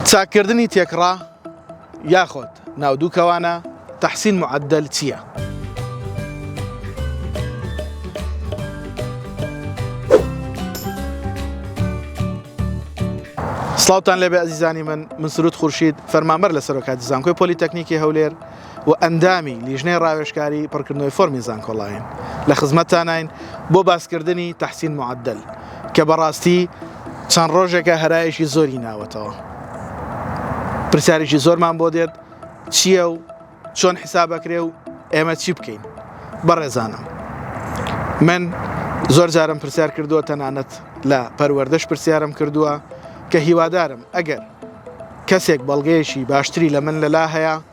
چاککردنی تێکڕا یاخۆد ناو دوو کەوانە تەحسین معدل چییە؟ سڵاوان لەبێ ئەزیزانی من من سرود خورشید فەرمانبەر لە سەرۆکاتی زانکۆی پۆلیتەکنیکی هەولێر و ئەندامی لیژنەی ڕاوێژکاری پڕکردنەوەی فۆرمی زانکۆڵاین لە خزمەتتاناین بۆ باسکردنی تەحسین معەدەل کە بەڕاستی چەند ڕۆژێکە هەرایەکی زۆری ناوەتەوە پرسیارێکی زۆرمان بۆ دێت چییە و چۆن حسابەکرێ و ئێمە چی بکەین بەڕێزانم من زۆر جارم پرسیار کردووە تەنانەت لە پەروەردەش پرسیارم کردووە کە هیوادارم ئەگەر کەسێک بەڵگەیەکی باشتری لە من لەلا هەیە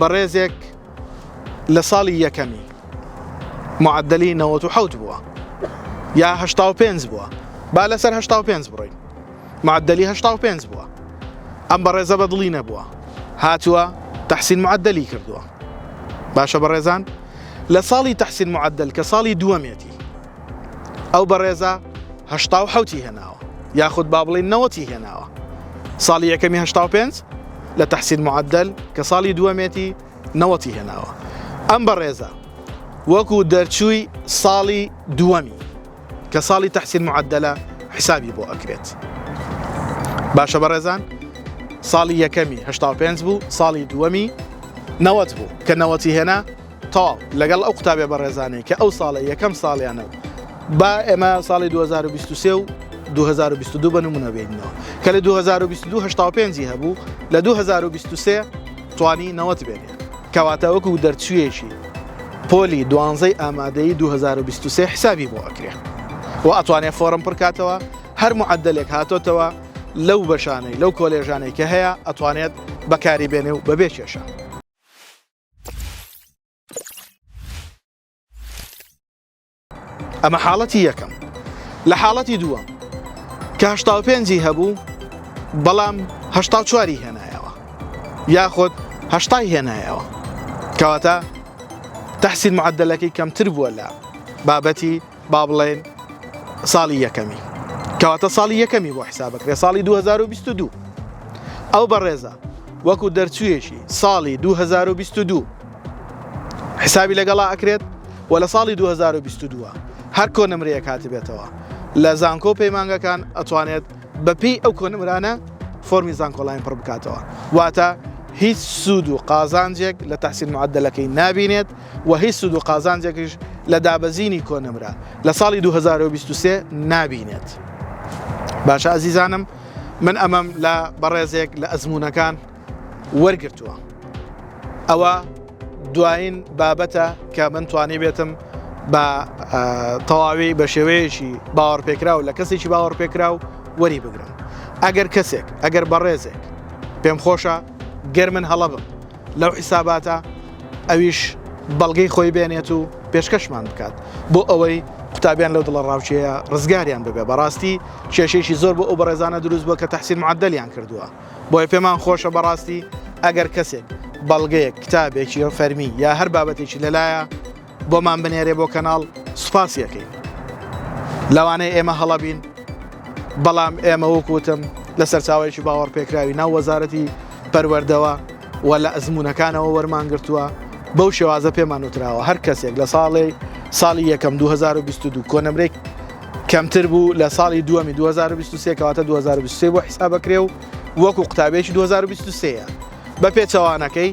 بەڕێزێک لە ساڵی یەکەمی معدلی نەوەت و حەوت بووە یا هەشتا و پێنج بووە با لەسەر هەشتا و پێنج بڕۆین معدلی هەشتا و پێنج بووە ئەم بەڕێزە بە دڵی نەبووە هاتووە تحسین معدلی کردووە باشە بەڕێزان لە ساڵی تحسین معدل کە ساڵی دووەمێتی ئەو بەڕێزە هەشتا و حوتی هێناوە یاخود با بڵین نەوەتی هێناوە ساڵی یەکەمی هشتا و پێنج لە تحسین معدل کە ساڵی دووەمێتی نەوەتی هێناوە ئەم بەڕێزە وەکو دەرچووی ساڵی دووەمی کە ساڵی تحسین معدلە حسابی بۆ ئەکرێت باشە بەڕێزان ساڵی یەکەمی هشتا و پێنج بوو ساڵی دووەمی نەوەت بوو کە نەوەتی هێنا تاڵ لەگەڵ ئەو قوتابیە بەڕێزانەی کە ئەو ساڵە یەکەم ساڵیانە و با ئێمە ساڵی 2023 و 2022 بە نمونە بێنەوە کە لە 2022 هشتا پێنجی هەبوو لە 2023 توانی نەوەت بێنێ کەواتە وەکو دەرچویەکی پۆلی دوانزەی ئامادەی 2023 حسابی بۆ ئەکرێ و ئەتوانێ فۆرم پڕکاتەوە هەر معدلێک هاتۆتەوە لەو بەشانەی لەو کۆلێژانەی کە هەیە ئەتوانێت بەکاری بێنێ و بەبێ کێشە ئەمە حاڵەتی یەکەم لە حاڵەتی دووەم کە هشتا پێنجی هەبوو بەڵام هشتا چواری هێنایەوە یاخود هشتای هێنایەوە کەواتە تحسین معدلەکەی کەمتر بووە لە بابەتی با بڵێن ساڵی یەکەمی کەواتە ساڵی یەکەمی بۆ حسابەکرێ ساڵی 2022 ئەو بەڕێزە وەکو دەرچوویەکی ساڵی 2022 حسابی لەگەڵا ئەکرێت و لە ساڵی 2022 هەر کۆنمرەیە کاتبێتەوە لە زانکۆ پەیمانگەکان ئەتوانێت بەپی ئەو کۆنمرانە فۆمی زانکۆلاین پڕ بکاتەوە واتە هیچ سوود و قازانجێک لە تحسین معدلەکەی نابینێت و هیچ سود و قازانجێکیش لە دابەزینی کۆنمرە لە ساڵی 2023 نابینێت باشە ئازیزانم من ئەمەم لە بەڕێزێک لە ئەزمونونەکان وەرگتووە ئەوە دوایین بابەتە کە من توانی بێتم بە تەواوی بە شێوەیەکی باوەڕپێکراو لە کەسێکی باوەڕپێکراو وەری بگرم ئەگەر کەسێک ئەگەر بەڕێزێک پێم خۆشە گەر من هەڵە بم لەو حیساباتە ئەویش بەڵگەی خۆی بێنێت و پێشکەشمان بکات بۆ ئەوەی قوتابیان لەو دڵە ڕاوچەیە ڕزگاریان ببێ بەڕاستی کێشێکی زۆر بۆ ئەو بەڕێزانە دروست بووە کە تەحسین معدلیان کردووە بۆیە پێمان خۆشە بەڕاستی ئەگەر کەسێک بەڵگەیەک کتابێکی فەرمی یا هەر بابەتێکی لەلایە بۆمان بنێرێ بۆ کەناڵ سوپاسی یەکەین لەوانەیە ئێمە هەڵەبین بەڵام ئێمە وەکوتم لە سەرچاوەیەکی باوەڕ پێکراوی ناو وەزارەتی پەروەردەوە و لە ئەزمونونەکانەوە وەرمان گرتووە بەو شێوازە پێمان وتراوە هەر کەسێک لە ساڵی ساڵی یەکەم 2022 کۆنمرێک کەمتر بوو لە ساڵی دووەمی 2023 کەواتە 2023 بۆ حیسابەکرێ و وەکو قوتابێکی 2023 بە پێچەوانەکەی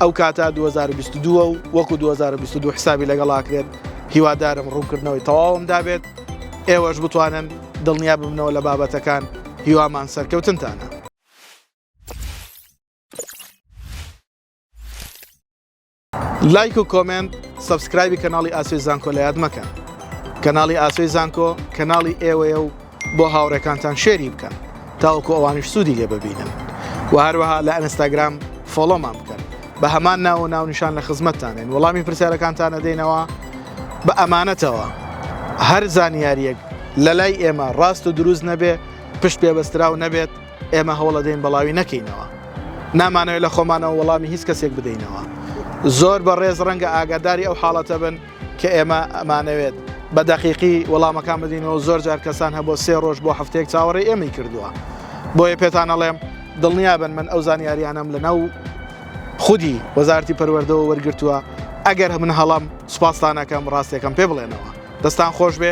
ئەو کاتە 2022 و وەکو 2022 حسابی لەگەڵاکرێت هیوادارم ڕوونکردنەوەی تەواوم دابێت ئێوەش بتوانن دڵنیا ببنەوە لە بابەتەکان هیوامان سەرکەوتنتانە لایک و کۆمنت سبسکرایبی کەناڵی ئاسوی زانکۆ لە یاد مەکەن کەناڵی ئاسوی زانکۆ کەناڵی ئێوەیە و بۆ هاوڕێکانتان شێری بکەن تاوەکو ئەوانش سوودی لێ ببینن و هەروەها لە ئەنستاگرام فۆڵۆمان بکەن بە هەمان ناوە ناونیشان لە خزمەتتانێن وەڵامی پرسیارەکانتانە دێنەوە بە ئەمانەتەوە هەر زانیاریەک لە لای ئێمە ڕاست و دروست نەبێ پشت پێبەستراو نەبێت ئێمە هەوڵەدەین بەڵاوی نەکەینەوە نامانەوە لە خۆمانەوە وەڵامی هیچ کەسێک بدەینەوە زۆر بە ڕێز ڕەنگە ئاگاداری ئەو حاڵەتە بن کە ئێمە ئەمانەوێت بە دەقیقی وەڵامەکان بدینەوە زۆر جار کەسان هەبوو سێ ڕۆژ بۆ هەفتەیەک چاوەڕێ ئێمەی کردووە بۆیە پێتانەڵێم دڵنیا بن من ئەو زانیاریانم لەناو خودی وەزارتی پەروەردەوە وەرگتووە ئەگەر من هەڵم سوپاستانەکەم ڕاستەکەم پێ بڵێنەوە دەستان خۆش بێ